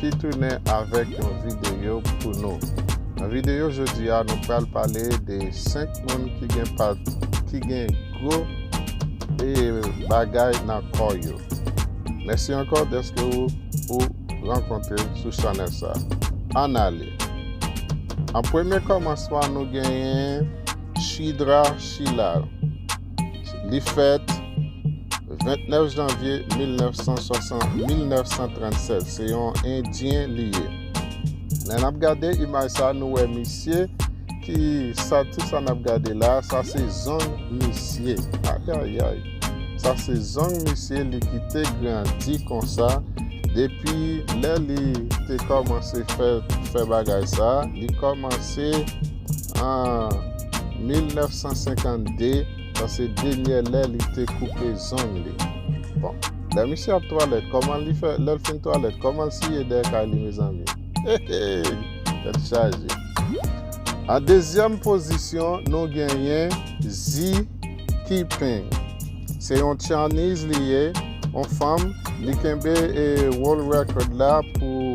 ki tounen avèk yon videyo pou nou. Nan videyo jodi a nou pral pale de 5 moun ki gen pat ki gen gwo e bagay nan kò yo. Mèsi ankò deske ou ou rankontre sou chanèl sa. An ale. An premye kòmansman nou genyen Shidra Shilal. Li fèt 29 janvye 1937. Se yon endyen li ye. Lè nap gade imaj sa nou wè misye ki sa tout sa nap gade la sa se zong misye. Ayayay. Sa se zong misye li kite grandi konsa depi lè li te kòmanse fè fè bagay sa li kòmanse An 1952, sa se denyè lè li te koupe zong li. Bon, lè misye ap twalèt, kòman li fè, lè l fin twalèt, kòman l siye dèyè kay li mezanmi? Hehey! Tèt chaje. An dezyèm pozisyon, nou genyen Xi Kiping. Se yon Chinese li ye, yon fanm, li kenbe world record la pou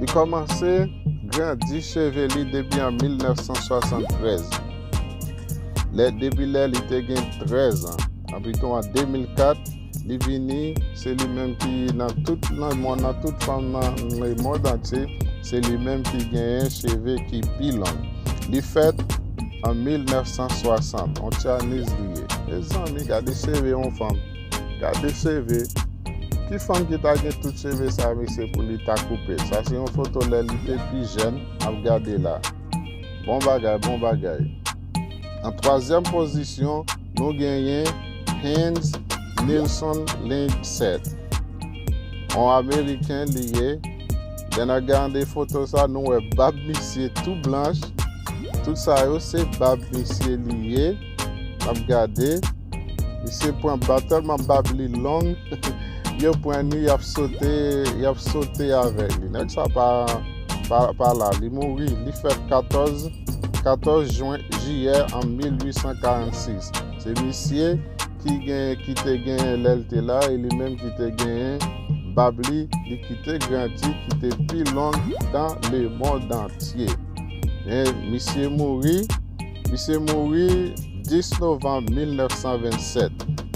Li kòmanse grandi cheve li depi an 1973. Lè depi lè li te gen 13 an, anpitou an 2004, li vini se li menm ki nan tout nan mond nan tout fanm nan le mond antye, se li menm ki genyen cheve ki pi long. Li fèt an 1960, on Chinese li ye. Mezanmi gade cheve yon fanm. Gade cheve. Ki fanm ki ta gen tout cheve sa mesye pou li ta koupe. Sa se yon foto lè li te pi jèn. Ap gade la. Bon bagay, bon bagay. An twazyèm pozisyon, nou genyen Heinz Nilson Lindset. On ameriken li ye. Lè nan gade foto sa, nou wè bab misye tou blanch. Tout sa yo se bab misye li ye. Map gade. Misye pran bab tèlman bab li long. Yo pran ni yap sote, yap sote avèk li. Nèg sa pa pa la, li mouri, li fèt 14 14 jwen jiyè an 1846. Se misye ki gen ki te gen lè l te la e li menm ki te gen bab li, li ki te grandi, ki te pi long dan lemond antye. Men misye mouri Misye mouri 10 novanm 1927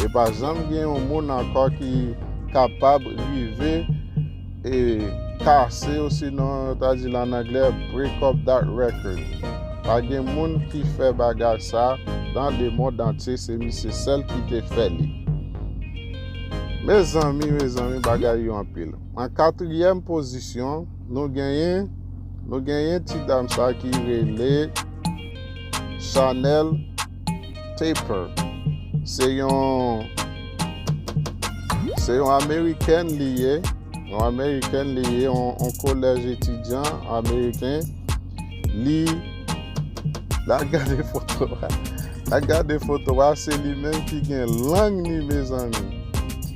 e pa janm gen yon moun ankò ki kapab rive e kase osinon yo ta di l an anglè break up that record. Pa gen moun ki fè bagay sa nan lemond antye se misye sèl ki te fè li. Mezanmi mezanmi bagay yo anpil. An katriyèm pozisyon. Nou genyen Nou genyen ti dam sa ki rele Chanel Taper se yon se yon amerikèn li ye yon amerikèn li ye yon kolèj etidyan ameriken li la gade foto la gade foto a se li menm ki gen lang ni mezanmi.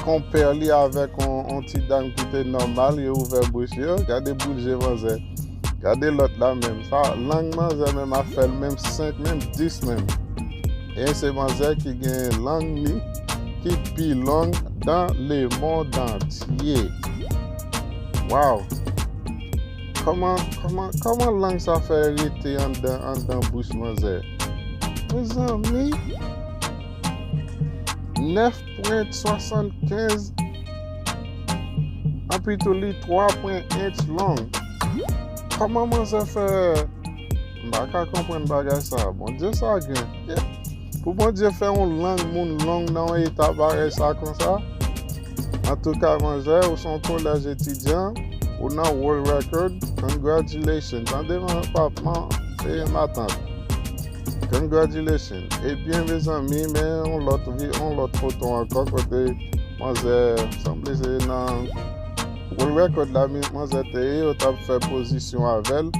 Konpè li avèk yon ti dam ki te nòmal, yo ouvè bouch yo, gade boul je manzè. Gade lòt la menm, sa lang manzè menm ap fè l menm 5 menm 10 menm. E se manzè ki gen lang li ki pi long dan lemondantye. Waw! Kòman, kòman, kòman lang sa fè rete anndan anndan bouch manzè? Mezanmi! 9 pwent 75 anpi tou li 3 pwent ench long. Koman manzè fè baka konpwen bagay sa? Bondye sa gen. Pou bondye fè yon lang moun long nan yon eta parèy sa konsa? An tou ka manzè ou son kolèj etidyan ou nan world record congratulations tande man pap man e matant. Congratulations Ebyen mezanmi men yon lòt vi yon lòt foto ankò kote manzè sanble se nan World Record la manzè te ye yo tap fè pozisyon avèl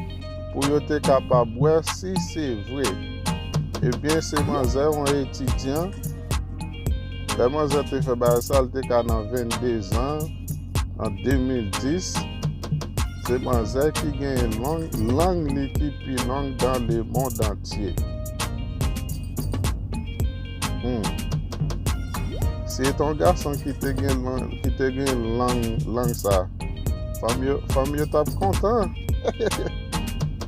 pou yo te kapab wè si se vre Ebyen se manzè yon etidyan lè manzè te fè bagay sa li te ka nan 22 zan an 2010, se manzè ki genyen lang li ki pi long dan le mond antye. Humm. Si e te yon gason ki te genyen lang sa, fanm yo tap kontan.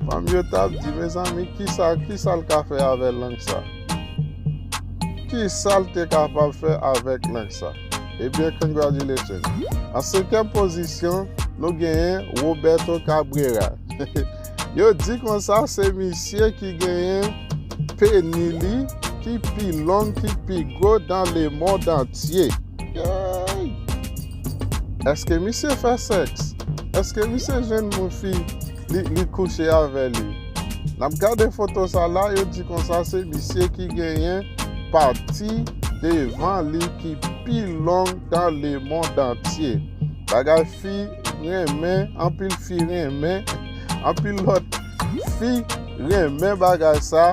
Fanm yo tap di, mezanmi, kisa l ka fè avè lang sa? Kisa l te kapab fè avèk lang sa? Ebyen congratulations. An senkyèm pozisyon nou genyen Roberto Cabrera. Yo di konsa se misye ki genyen peni li ki pi long ki pi gwo dan le mond antye. Eske misye fè sèks? Eske misye jwenn moun fi? Li kouche avè li. Nap gade foto sa la yo di konsa se misye ki genyen pati devan li ki pi long dan le mond antye. Bagay fi renmen, anpil fi renmen, anpil lot fi renmen bagay sa.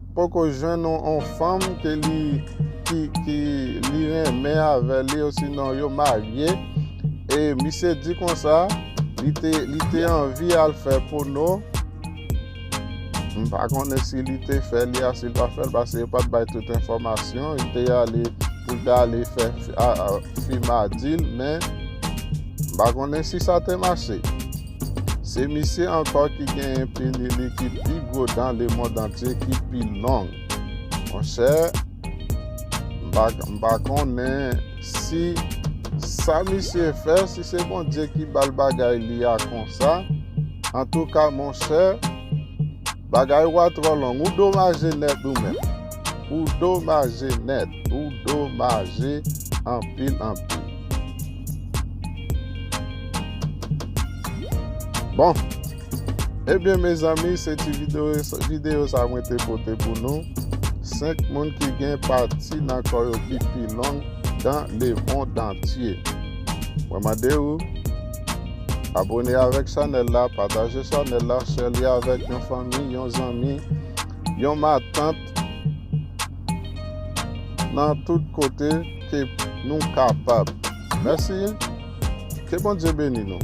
Poko jwenn yon fanm ke li ki li renmen avè li osinon yo marye e misye di konsa li te li te anvi al fè pono m pa konnen si li te fè li a si l pa fè l pase yo pa t bay tout enfòmasyon li te ale pou l ta ale fè fi ma di l men m pa konnen si sa te mache Se misye ankò ki genyen peni li ki pi gwo dan lemond antye ki pi long. Monchè, m pa konnen si sa misye fè, si se Bondye ki ba l bagay li a konsa. Antouka monchè. Bagay ou a trò long. Ou domaje nèt ou menm. Ou domaje nèt. Ou domaje anpil anpil. Bon. Ebyen mezanmi se ti video sa mwen te pote pou nou. 5 moun ki gen pati nan kò yo ki pi long dan le mond antye. Mwen mande ou. Abone avèk chanèl la, pataje chanèl la, share li avèk yon fanmi, yon zanmi, yon matant nan tout kote ke nou kapab. Mèsi, ke Bondye beni nou.